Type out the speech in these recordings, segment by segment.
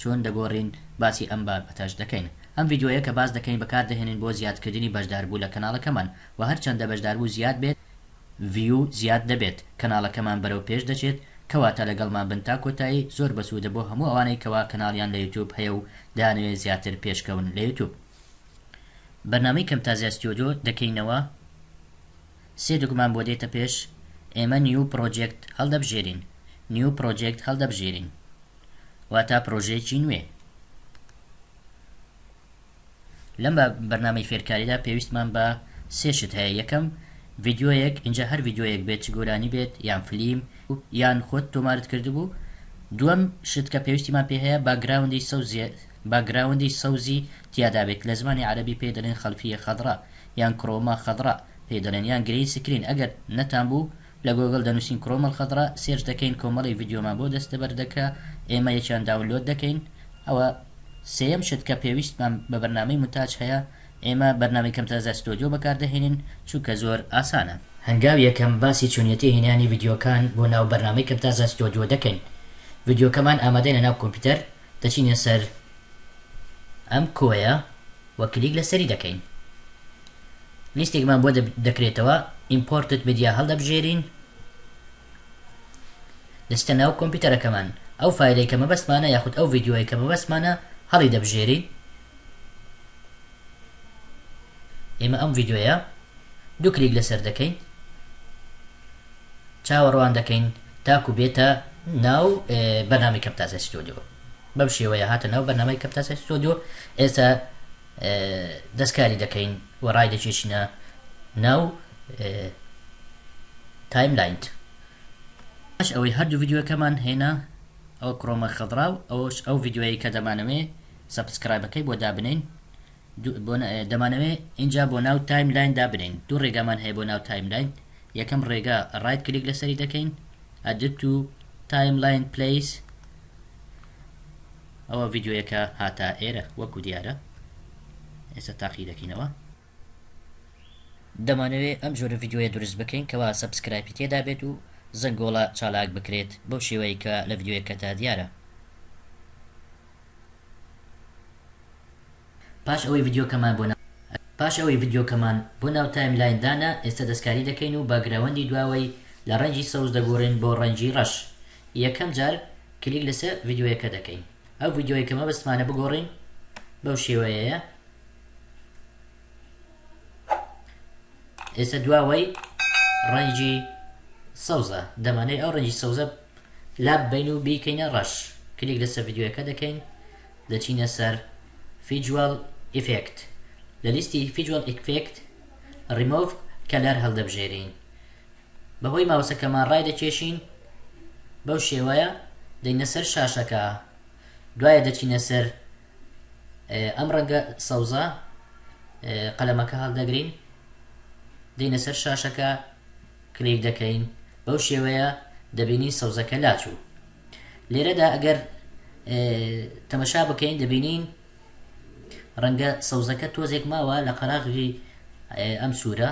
چۆن دەگۆرین باسی ئەم بابەتەش دەکەین ئەم ڤیدیۆیە کە باس دەکەین بەکار دەهێنین بۆ زیاد کردنی بەشداربوو لە کەناڵەکەمان وە هەر چەندە بەشداربوو زیاد بێت ڤیوو زیاد دەبێت کەناڵەکەمان بەرەو پێش دەچێت کەواتە لەگەڵمان بن تا کۆتایی زۆر بەسوودە بۆ هەموو ئەوانەی کەوا کەناڵیان لە یوتوب هەیە و دەیانەوێت زیاتر پێشکەون لە یوتوب. بەرنامەی کەمتازیا ستیۆدۆ دەکەینەوە سێ دەگمان بۆ دێتە پێش ئێمە نیو پڕۆجێکت هەڵدەبژێرین نیو پڕۆجێکت هەڵدەبژێرین. واتا پرۆژەیەکی نوێ لەم بەرنامەی فێرکاریدا پێویستمان بە سێ شت هەیە یەکەم ڤیددیوەیەک اینجا هەر ڤیددیوەیەک بێت چ گۆرانی بێت یان فلیم یان خۆت تۆمارت کردبوو دووەم شت کە پێویستیمان پێ هەیە باگراوندی سەوزیە باگراوندی سەوزی تیادابێت لە زمانی عربی پێ دەڵێن خەلفیە خەدڕا یان کرۆما خەدڕا پێ دەڵێن یان گرین سکرین ئەگەر نەتان بوو لە گۆگڵ دەنوسین کڕۆم الخضرا سێرچ دەکەین کۆمەڵێک ڤیدیۆمان بۆ دەستەبەر دەکا ئێمە یەکیان داونلۆد دەکەین ئەوە سێیەم شت کە پێویستمان بە بەرنامەی مونتاج هەیە ئێمە بەرنامەی کەمترازا ستۆدیۆ بەکاردەهێنین چونکە زۆر ئاسانە. هەنگاوی یەکەم باسی چۆنیەتی هێنانی ڤیدیۆکان بۆ ناو بەرنامەی کەمتازا ستۆدیۆ دەکەین ڤیدیۆکەمان ئامادەین لەناو کۆمپیوتەر دەچینە سەر، ئەم کۆیە وە کلیک لەسەری دەکەین لیستێکمان بۆ دەکرێتەوە ئیمپۆرتت میدیا هەڵدەبژێرین دەچتە ناو کۆمپیوتەرەکەمان ئەو فایلەی کە مەبەستمانە یاخود ئەو ڤیددیوەی کە مەبەستمانە هەڵی دەبژێرین ئێمە ئەم ڤیددیوە دوو کلیک لەسەر دەکەین چاوەڕوان دەکەین تاکو بێتە ناو بەنامی کەپتازە ستۆدیۆ بەم شێوەیە هاتە ناو بەرنامەی کەمپتاسای ستۆدیۆ ئێستا دەست کاری دەکەین و ڕای دەکێشینە ناو تایم لاینت ئەش ئەوەی هەردوو ڤیددیوەکەمان هێنا ئەو کڕۆمە خەڵرا و ئەوش ئەو ڤیددیوەیە کە دەمانەوێ سەبسکرایبەکەی بۆ دابنین دەمانەوێ اینجا بۆ ناو تایم لاین دابنین دوو ڕێگامان هەیە بۆ ناو تایم لاین یەکەم ڕێگا ڕایت کلیک لەسەری دەکەین ئەدت و تایم لاین پلەیس ئەوە ڤیدیۆیەکە هاتە ئێرە وەکو دیارە ئێستا تاقی دەکەینەوە. دەمانەوێ ئەم جۆرە ڤیدیۆیە دروست بکەین کەوا سەبسکرایپی تێدا بێت و زەنگۆڵە چالاک بکرێت بەو شێوەیەی کە لە ڤیدیۆیەکەدا دیارە. پاش ئەوەی ڤیدیۆکەمان بۆ نا. پاش ئەوەی ڤیدیۆکەمان بۆ ناو تایم لاین دانا ئێستا دەستکاری دەکەین و باگراوەندی دواوەی لە ڕەنگی سەوز دەگۆڕین بۆ ڕەنگی ڕەش یەکەم جار کلیک لەسەر ڤیدیۆیەکە دەکەین ئەو ڤیدیۆیە کە مەبەستمانە بگۆڕین بەو شێوەیەیە ئێستا دواوەی ڕەنگی سەوزە دەمانەوێت ئەو ڕەنگی سەوزە لاببەین و بیکەینە ڕەش کلیک لەسەر ڤیدیۆیەکە دەکەین دەچینە سەر فیجوال ئیفێکت لە لیستی فیجوال ئیکفێکت ڕیمۆڤ کەلەر هەڵدەبژێرین بەهۆی ماوسەکەمان ڕای دەکێشین بەو شێوەیە دەینە سەر شاشەکە دوایە دەچینە سەر ئەم ڕەنگە سەوزە قەلەمەکە هەڵدەگرین دەینە سەر شاشەکە کلیک دەکەین بەو شێوەیە دەبینین سەوزەکە لاچوو لێرەدا ئەگەر تەمەشا بکەین دەبینین ڕەنگە سەوزەکە تۆزێک ماوە لە قەراغی ئەم سوورە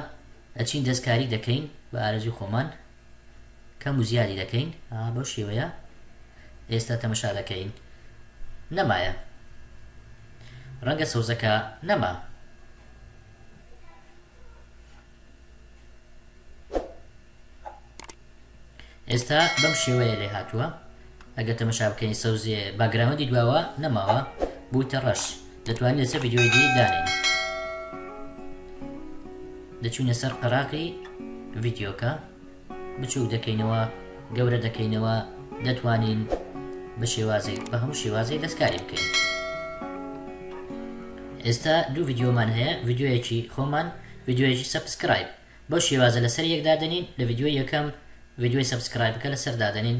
ئەچین دەستکاری دەکەین بە ئارزوی خۆمان کەم و زیادی دەکەین بەو شێوەیە ئێستا تەمەشا دەکەین نەمایە ڕەنگە سەوزەکە نەما ئێستا بەم شێوەیە لێهاتووە ئەگەر تەمەشا بکەین سەوزێ باگراوەندی دواوە نەماوە بوویتە ڕەش دەتوانین لەسەر ڤیددیۆی دی دانێن دەچوینە سەر قەراقی ڤیددیۆکە بچووک دەکەینەوە گەورە دەکەینەوە دەتوانین بە شێوازێک بە هەموو شێوازێک دەستکاری بکەین ئێستا دوو ڤیددیۆمان هەیە ڤیددیۆیەکی خۆمان ڤیدیۆیەکی سەبسکرایب بەو شێوازە لەسەر یەک دادەنین لە ڤیدیۆی یەکەم ڤیدیۆی سەبسکرایبەکە لەسەر دادەنین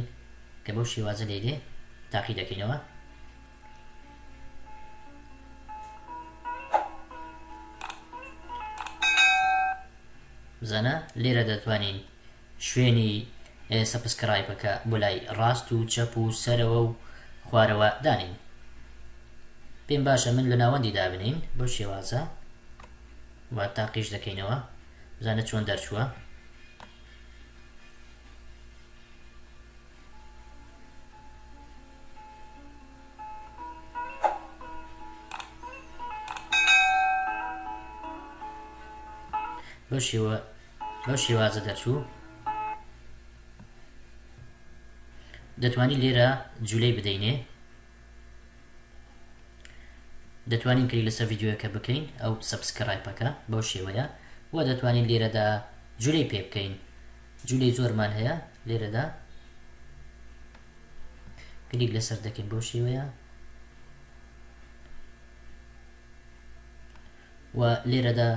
کە بەو شێوازە لێی دێ تاقی دەکەینەوە. بزنە لێرە دەتوانین شوێنی سەپسکرایبەکە بۆ لای ڕاست و چەپ و سەرەوە و خوارەوە دانێن پێم باشە من لە ناوەندی دابنین بەو شێوازە وا تاقیش دەکەینەوە بزانە چۆن دەرچووە بەو شێوە بەم شێوازە دەرچوو دەتوانین لێرە جوولەی بدەینێ دەتوانین کری لەسەر ڤیددیوەکە بکەین ئەو سەبسکرایپەکە بەو شێوەیە و دەتوانین لێرەدا جوولەی پێ بکەین جوولەی زۆرمان هەیە لێرەدا کلیک لەسەر دەکەین بەو شێوەیە وە لێرەدا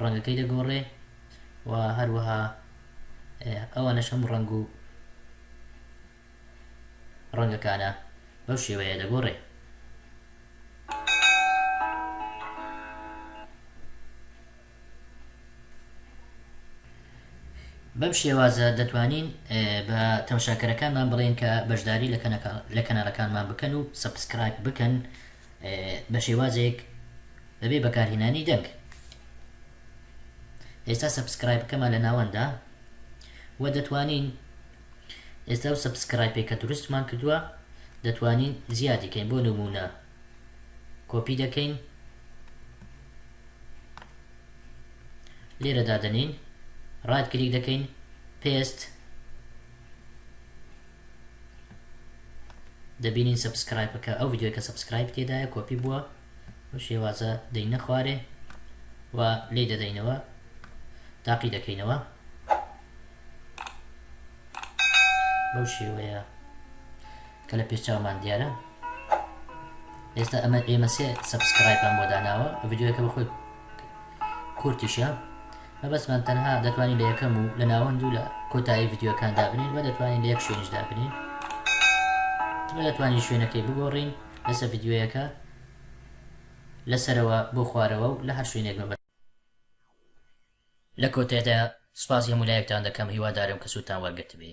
ڕەنگەکەی دەگۆڕێ و هەروەها ئەوانەش هەموو ڕەنگ و ڕەنگەکانە بەو شێوەیە دەگۆڕێ بەم شێوازە دەتوانین بە تەمەشاکەرەکانمان بڵێین کە بەشداری لە کەناڵەکانمان بکەن و سەبسکرایب بکەن بە شێوازێک بەبێ بەکارهێنانی دەنگ ئێستا سەبسکرای بکەمە لە ناوەندا و دەتوانین ئێستا و سەبسکرای پێکە دروستمان کردووە دەتوانین زیادیکەین بۆ نمونە کۆپی دەکەین لێرە دادەنێین ڕایت کلیک دەکەین پێست دەبینین سبسکرایبەکە ئەو یددیوەکە سبسکرایب تێدایە کۆپی بووە و شێوازە دەی نەخوارێ و لی دەدەینەوە تاقی دەکەینەوە بەو شێوەیە کە لە پێشچاومان دیارە ئێستا ئەمە ئێمە سێ سەبسکرایپان بۆ داناوە ڤیددیوەکە بە خۆی کورتیشە مەبەستمان تەنها دەتوانین لە یەکەم و لە ناوەند و لە کۆتایی ڤیددیوەکان دابنین و دەتوانین لە یەک شوێنش دابنین دەتوانین شوێنەکەی بگۆڕین لەسەر ڤیددیوەکە لەسەرەوە بۆ خوارەوە و لە هەر شوێنێک مەبەست لە کۆتایدا سپاسی هەموو لایەکتان دەکەم هیوادارم کە سوودتان وەرگرتبێ